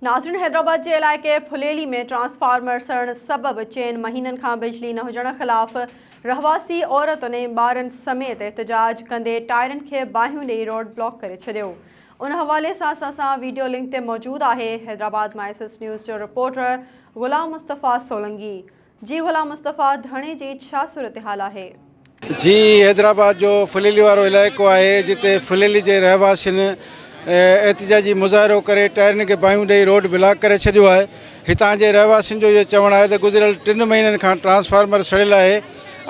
ناظرين حيدرآباد جي علائقي ڦليلي ۾ ٽرانسفارمر سڙڻ سبب چئن مهينن کان بجلي نه هجڻ خلاف رهواسي عورتن ۽ ٻارن سميت احتجاج ڪندي ٽائرن کي باهيون ڏئي روڊ بلاڪ ڪري ڇڏيو ان حوالي سان اسان سان ويڊيو لنڪ تي موجود آهي حيدرآباد مان ايس ايس نيوز جو رپورٽر غلام مصطفيٰ سولنگي جي غلام مصطفيٰ ڌڻي جي ڇا صورتحال آهي؟ جي حيدرآباد جو ڦليلي وارو علائقو آهي جتي ڦليلي جي رهواسين احتجاجي مظاهرو ڪري ٽائرن کي باهيون ڏئي روڊ بلاڪ ڪري ڇڏيو آهي هتان جي رهواسين جو اهو چوڻ آهي ته گذريل ٽن مهينن کان ٽرانسفارمر سڙيل آهي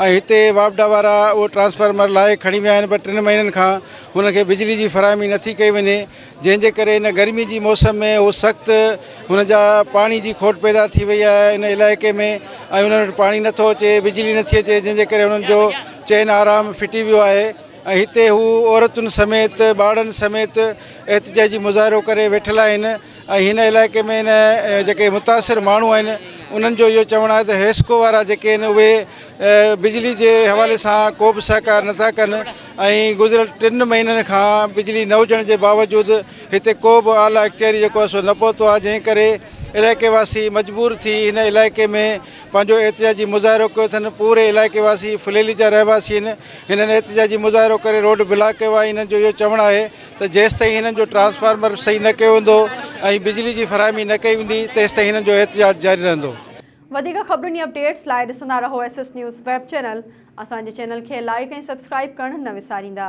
۽ هتي واپڊا وارا اهو ٽرانسفارمر لاهي کڻي ويا آهن پر ٽن مهينن کان هنن کي بجلي جي فراهمي نٿي ڪئي وڃي جنهن جي ڪري هن گرمي جي موسم ۾ هو سخت هن جا پاڻي جي کوٽ پيدا ٿي وئي آهي هن علائقي ۾ ۽ هنن وٽ پاڻي نٿو اچي بجلي نٿي اچي جنهن جي ڪري هنن جو چين آرام ڦٽي ويو آهي ۽ هتي هو عورتن سميت ٻارڙن سميت احتجاجي مظاهرو ڪري ويٺل آهن ۽ هن علائقي ۾ هن جيڪي متاثر ماڻهو آهن انهن جو اهو چوڻ آهي ته حيسڪو وارا جيڪي آهن اهي بجلي جي حوالي سان ڪو به سهڪار نٿا ڪن ۽ گذريل ٽن مهينن کان بجلي نه هجڻ جي باوجود هتي ڪو به اعليٰ اختياري جيڪو آهي سو نه پهتو آهي جنهن ڪري علائقي واسي مجبور ٿي هن علائقي ۾ پنهنجو احتجاجي مظاهرو ڪيو اٿن پوري علائقي واسي ڦليلي جا رهواسي آهن هنن احتجاجي مظاهرو ڪري روڊ بلاڪ ڪيو آهي هنن جو اهو چوڻ آهي ته جيستائين هنن جو ٽرانسفارمر صحيح نه ڪيو ويندو ۽ بجلي جي فراهمي نه ڪئي ويندي تيستائين هنن جو احتجاج جاري رهندو وڌيڪ خبرن ۽ اپڊيٽس لاء ڏسندا رهو S S news web channel. اسان جي چينل کي لائيڪ ۽ سبسڪرائيب ڪرڻ نه وساريندا.